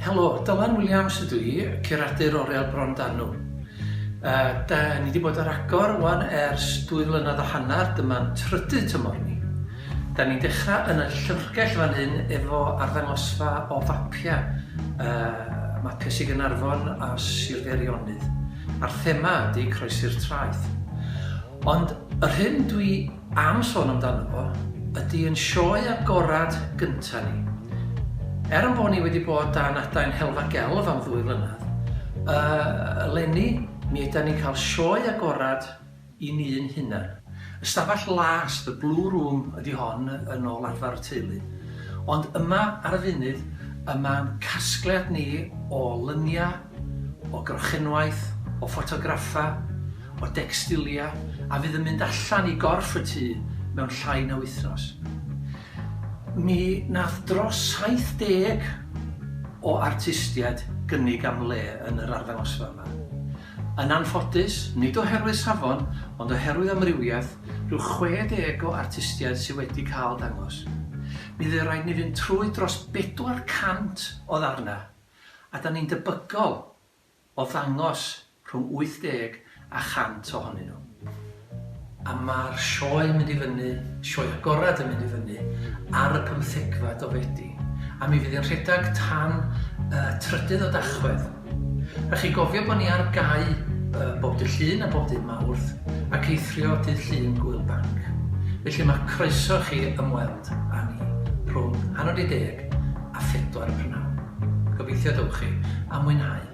Helo, Dylan Williams ydw i, curadur Oriel Bron Danw. Uh, da, ni wedi bod ar agor wan ers dwy flynedd a hanner, dyma'n trydydd tymor ni. Da ni'n dechrau yn y llyfrgell fan hyn efo arddangosfa o fapiau, uh, mapiau sy'n Gynarfon a Sir Feirionydd. A'r thema ydy croesi'r traeth. Ond yr hyn dwi am sôn amdano fo, ydy yn sioe agorad gynta ni. Er yn bod ni wedi bod dan adain Helfa Gelf am ddwy flynedd, uh, eleni mi yda ni'n cael sioe agorad i ni'n hunan. Ystafell las, the blue room ydy hon yn ôl arfer y teulu. Ond yma ar y funud, y mae'n casgliad ni o lyniau, o grochenwaith, o ffotograffau, o decstiliau, a fydd yn mynd allan i gorff y tŷ mewn llai na wythnos. Mi nath dros 70 o artistiaid gynnig am le yn yr arddangosfa yma. Yn anffodus, nid oherwydd safon, ond oherwydd amrywiaeth, rhyw 60 o artistiaid sydd wedi cael dangos. Mi fydd rhaid ni fynd trwy dros 400 o ddarnau. a 'da ni'n debygol o ddangos rhwng 80 a 100 ohonyn nhw. A ma'r sioe'n mynd i fyny, sioe agorad yn mynd i fyny ar y pymthegfed o Fedi, a mi fydd hi'n rhedag tan y trydydd o Dachwedd. Rhaid chi gofio bo' ni ar gau bob dydd Llun a bob dydd Mawrth, ac eithrio dydd Llun Gŵyl Banc. Felly ma' croeso chi ymweld â ni rhwng hanner 'di deg a phedwar y prynawn. Gobeithio y dewch chi, a mwynhau!